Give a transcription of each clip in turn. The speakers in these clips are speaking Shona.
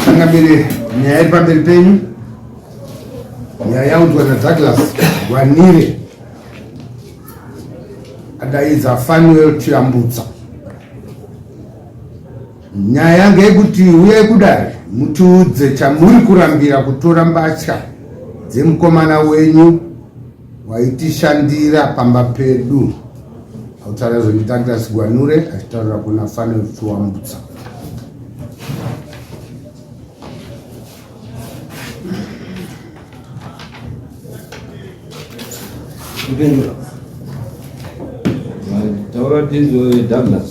Changamire nyaya iri pamberi penyu, nyaya yaunzwa naDouglas Gwanire adaidza Fanuel Chiyambutsa. Nyaya yange yekuti uyai kudare mutiudze chamuri kurambira kutora mbatya dzemukomana wenyu waitishandira pamba pedu autaura zvekuti Douglas Gwanure achitaurira kuna Fane Chiwambutsa Taura tizwe Douglas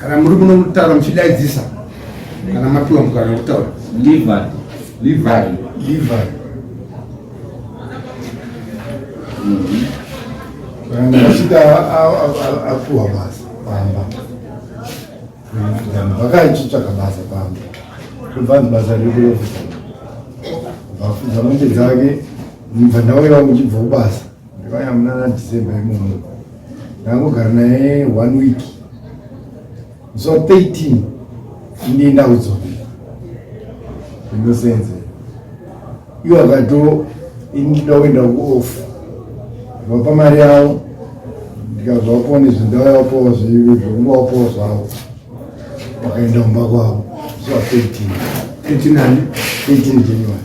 kana muri kuno kutaura muchidaidzisa kana mapiwa mukana kutaura asvika apiwa basa pamba vakachitsvaga basa pamba kuvanhu basa rekuyofuza vafuza mombe dzake mubva ndauya uchibva kubasa Ndivaya munana December imomo. Ndangogara naye one week. So 13 ndiye ndaudzwa. Ndinosenze. Iwo akato indida kuenda kuofu. Vapa mari yavo ndikazvapo nezvindavapo zvekungovapo zvavo wakaenda kumba kwavo zuva 13 13 January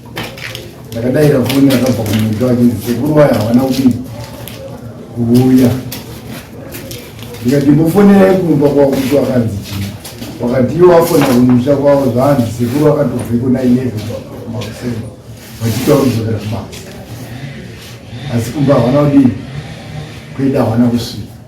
ndakadaira foni yakabva kumuti wake sekuru waya havana kudii kuuya ndikati mbofonerai kumba kwakuti wakanzi chii wakati iwo wafona kumusha kwavo zvanzi sekuru wakatobveko na eleven makuseni vachita kuzokera kubasa asi kumba havana kudii kuenda havana kusvika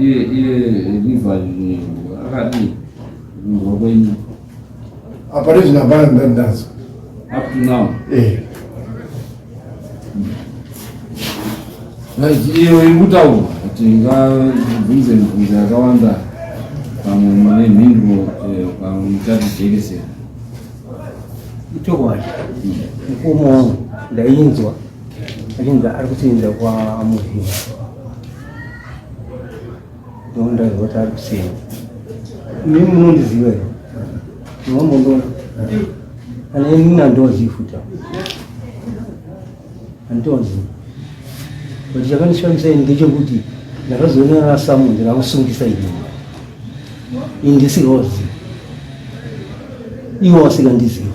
iye iye riva akadii kumhwa kwenyu apa rezvino hapana ndandazwa up to now eh. iyo iri kutaurwa kuti ingabvunze mibvunzo yakawanda pamwe mune mhinduro eh, pamwe muchatijekesera itokwadi hmm. mukoma wangu ndainzwa achinzi ari kutoenda kwamuhina Donda roti ari kusiyana. Mimi munondiziva here? Munombondiona? Kana ini nandozivi futi apo. Handitozivi. But chakandishamisa ini ndechekuti ndakazoona rasamu ndiramusungisa ini. Ini ndisirozivi. Iwo asikandizivi.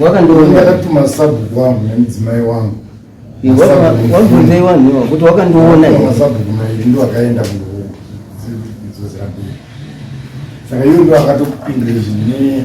wakandiwonaaatmasabhuku wangu nemudzimai wangu wabvunzai wanhu iwa kuti wakandiwona masabhuku mairi ndo akaenda kundozozirambii saka iyo ndo akatokupindira izvi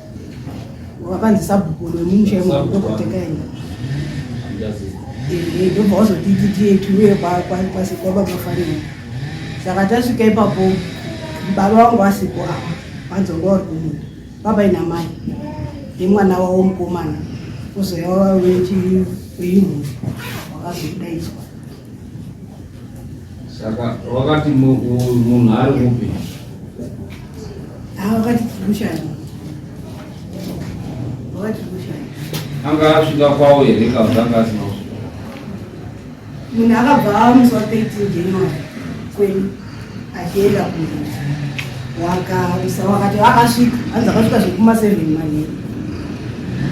wakanzi sabhuku wemumusha yemudokotekayenda ndobva wazotititietiuye kwababa farina saka tasvika ipapo baba wangu vasipo apa vanzonga vari kumunda baba ina mai nemwana wavo mukomana uzouya wava wechiyumhuri wakazodaidzwa Saka wakati munhu ari kupi? Ah, wakati tikushani. Wakati tikushani. Anga asvika kwawo here ka kutanga asina kusvika? Munhu akabva amuswa 13 January kweni. achienda kunozi wakaisa wakati akasvika hanzi akasvika zvekuma seven manheru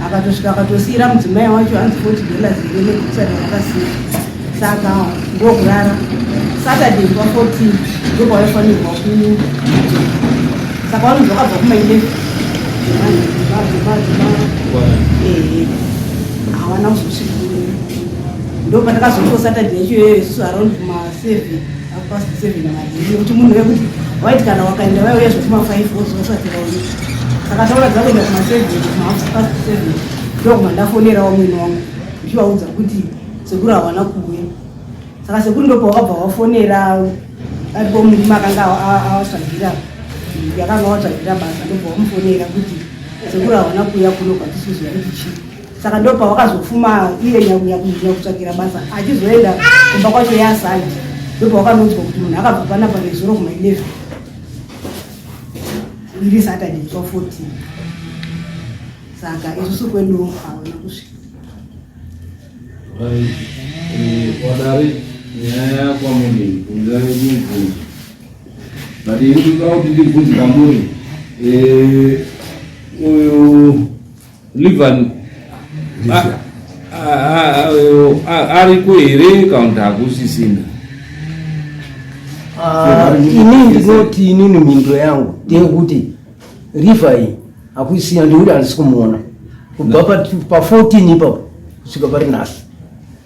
akatosvika akatosiira mudzimai wacho hanzi forty dollars ire nekusada wakasiya saka ndokurara saturday nguva fourteen ndokwaaifanirwa ku saka vanonzi vakabva kumaileve hawana kuzosvika ndopatakazotosaturday yacho iyoyo isu around maseven kuti munhu wekuti waiti kana wakaenda vaiuya zvekuma five wozosati vaone saka taura dzakuenda kuma seven kumahalf past seven ndokuma ndafonera wamwene wangu ndichivaudza kuti sekuru hawana kuuya saka sekuru ndopawakabva wafonera aripo murima akanga awatsvagira yakanga watsvagira basa ndobva wamufonera kuti sekuru hawana kuuya kuno kwatisizoya kuti chii saka ndopa wakazofuma iye nyakunyakunzira kutsvagira basa achizoenda kumba kwacho yasandi ndopa wakanonzwa kuti munhu akabva panapa nezuro kuma 11 iri saturday kwa 14 saka isusu kwedu haona kusvika wadari eh, nyaya yakwa muni kunzira yekubvunza but ini kuda kuti ndibvunze kamuri eh, uyu Livan ariko here kana kuti hakusisina? Ah, ini ndinoti inini mhinduro yangu ndeyekuti Livai hakusisina ndekuti handisi kumuona kubva pa 14 ipapo kusvika pari nhasi.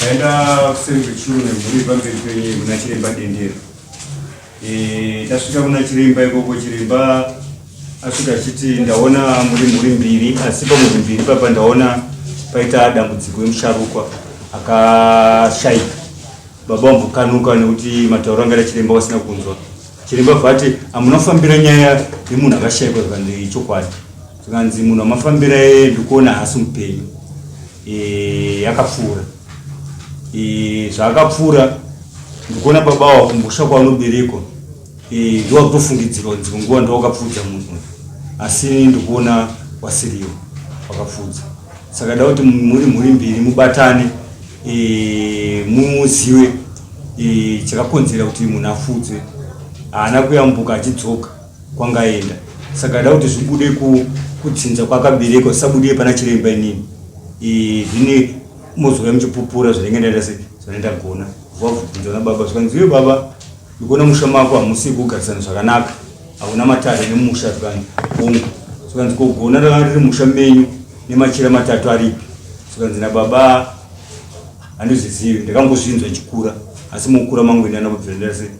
Taenda kuseri kwechuru nemhuri pamberi penyu kuna chiremba Dendera. Eh, tasvika kuna chiremba ikoko chiremba asvika achiti ndaona muri mhuri mbiri asi pamhuri mbiri papa ndaona paita dambudziko emusharukwa akashaika baba wambokanuka nekuti matauro anga chiremba wasina kunzwa chiremba vati hamunofambira nyaya yemunhu akashaikwa zvikanzi chokwadi zvikanzi munhu wamafambira yeye ndikuona hasi mupenyu e, yakapfuura e, zvaakapfuura ndikuona baba wa kumbusha kwaunoberekwa e, ndowakutofungidzirwa kunzi kunguva ndowakapfuudza munhu asi ndikuona wasiriwo wakapfuudza saka da kuti muri mhuri mbiri mubatane e, muziwe e, chakakonzera kuti munhu apfuudzwe haana kuyambuka achidzoka kwangaenda saka ada kuti zvibude kudzinza kwakaberekwa zvisabude pana chiremba inini e, zvine mozouya muchipupura zvinenge ndaita se zvanoenda gona vavhunza na baba zvikanzi uye baba ndikuona musha mako hamusi kugarisana zvakanaka hauna matare nemusha zvikanzi ongo zvikanzi kogona ranga riri musha menyu nemachira matatu aripi zvikanzi nababa handizvizivi ndakangozvinzwa chikura asi mukura mangu ini anakubvira ndase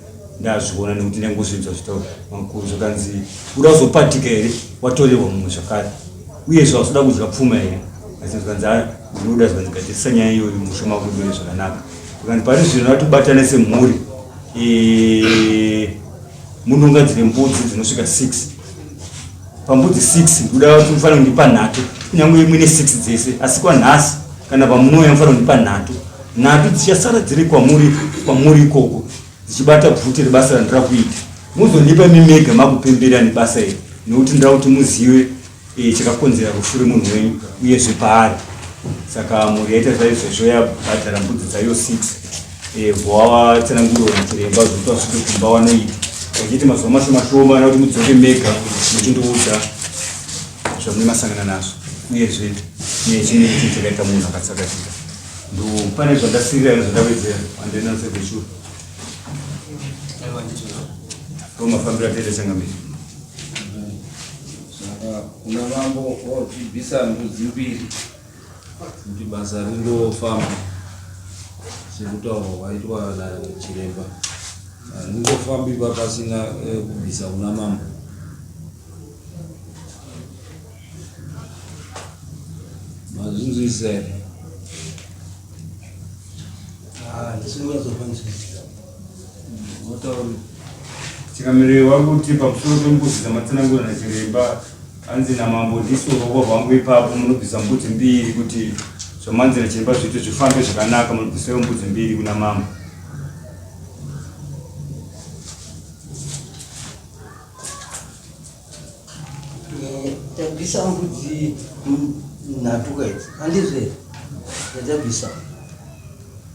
ndazviona nekuti ndangozvinzwa zvitaura makuru zvakanzi uda kuzopatika here watorerwa mumwe zvakare uyezve hausoda kudya pfuma here asi zvikanzi ah, ndinoda zvikanzi gadzirisa nyaya iyoyo mushe makuiwere zvakanaka zvikanzi pari zvino vatobatana semhuri munongadzire mbudzi dzinosvika six pambudzi 6 kuda kuti mufanira kundipa nhatu kunyange imwe ne 6 dzese asi kwanhasi kana pamunouya mufanira kundipa nhatu nhatu dzichasara dziri kwamuri kwamuri ikoko dzichibata bvute rebasa randira kuita muzondipa mimega makupembera nebasa iri nekuti ndira kuti muzive e, chakakonzera rufu remunhu wenyu uyezve paari saka mhuri yaita zvaizvezvo yabhadhara mbudzi dzayo 6 Evo avatsanangurwa nachiremba zvekuti vasvike kumba wanoita vachiti mazuva mashoma shoma ana kuti mudzoke mega muchindiudza zvamune masangana nazvo uyezve nechine ichi chakaita munhu akatsakatika ndo pane zvandasirira nezvandavedzera andenanzevechuru ndo mafambiro atete changamiri kuna mambo wadzibvisa ndudzi mbiri kuti basa ringofamba sekutaurwa kwaitwa nachiremba haringofambi papasina eh, kubvisa kuna mambo mazvinzwisisa here ah, Chikamiro wakuti pamusoro pembudzi dzamatsanangura nachiremba hanzi namambo ndisu uroko hwangu ipapo munobvisa mbudzi mbiri kuti zvamanzi nachiremba zviite zvifambe zvakanaka munobvisawo mbudzi mbiri kuna mambo Tabisa mbudzi nhatuka idzi handizve yatabisa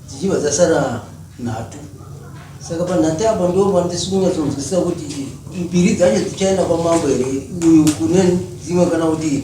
dzichibva dzasara nhatu saka panhatu apa ndo pandisi kunyatsonzwisisa kuti mbiri dzacho dzichaenda kwamambo here uyu kune dzimwe kana kuti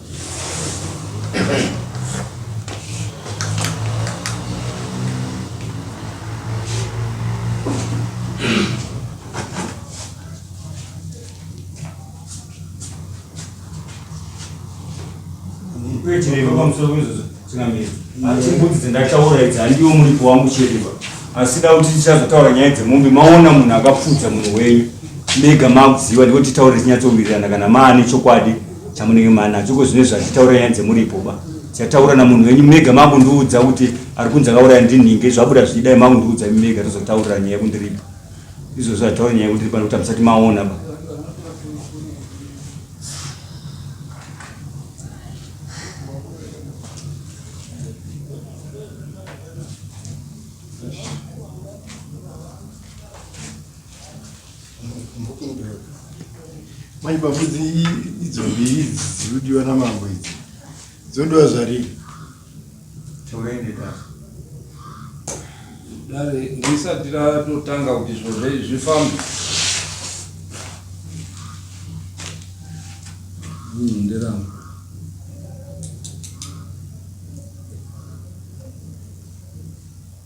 chiremba pamusoro pezvozvo chingamira asi mbudzi dzendataura idzi handiwo muripo wangu chiremba asida kuti tichazotaura nyaya dzemombe maona munhu akapfudza munhu wenyu mega makuziva ndiko titaure tinyatsowirirana kana maane chokwadi chamunenge manacho ko zvine zvachitaura nyaya dzemuripo ba chataura namunhu wenyu mega makundiudza kuti ari kunzi akauraya ndinhinge zvabuda zvichidai makundiudza imi mega tozotaurira nyaya kundiripa izvo zvataura nyaya kundiripa nekuti hamusati maona ba Mai pambudzi idzo mbiri idzi dzirikudiwa namambo idzi dzodiwa zvarii toende dare dare risati ratotanga kuti zvozve zvifambe nderangu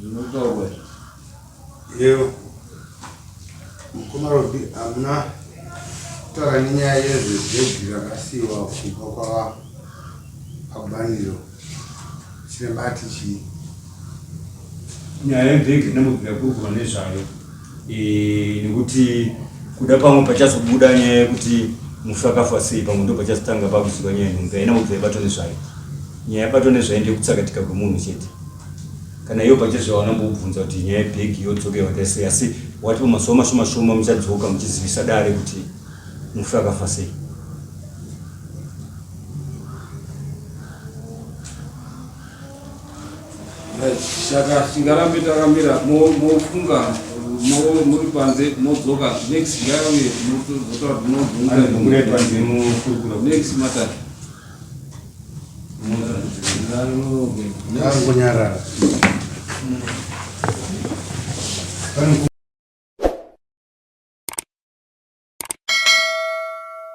zvinotaurwa yeo mukoma robi hamuna kutaura nenyaya yezvezvegwi rakasiyiwa kubva kwava pabaniro chiremba ati chii nyaya yebhegi ndina mubvira kurukura nezvayo eh, nekuti kuda pamwe pachazobuda nyaya yekuti mufi akafa sei pamwe ndo pachazotanga pakuziva nyaya nhumbi haina kubvira ibato nezvayo nyaya yabato nezvayo ndeyekutsakatika kwemunhu chete kana iyo pachezvo vanambobvunza kuti nyaya yebhegi yodzoka yakaita sei asi wati pamazuva mashoma shoma muchadzoka muchizivisa dare kuti mufi akafa sei Saka tingarambe takamira mofunga muri panze modzoka next yauye mozotaura kuti munozungamunoitwa nemukurukura next matter kunyarara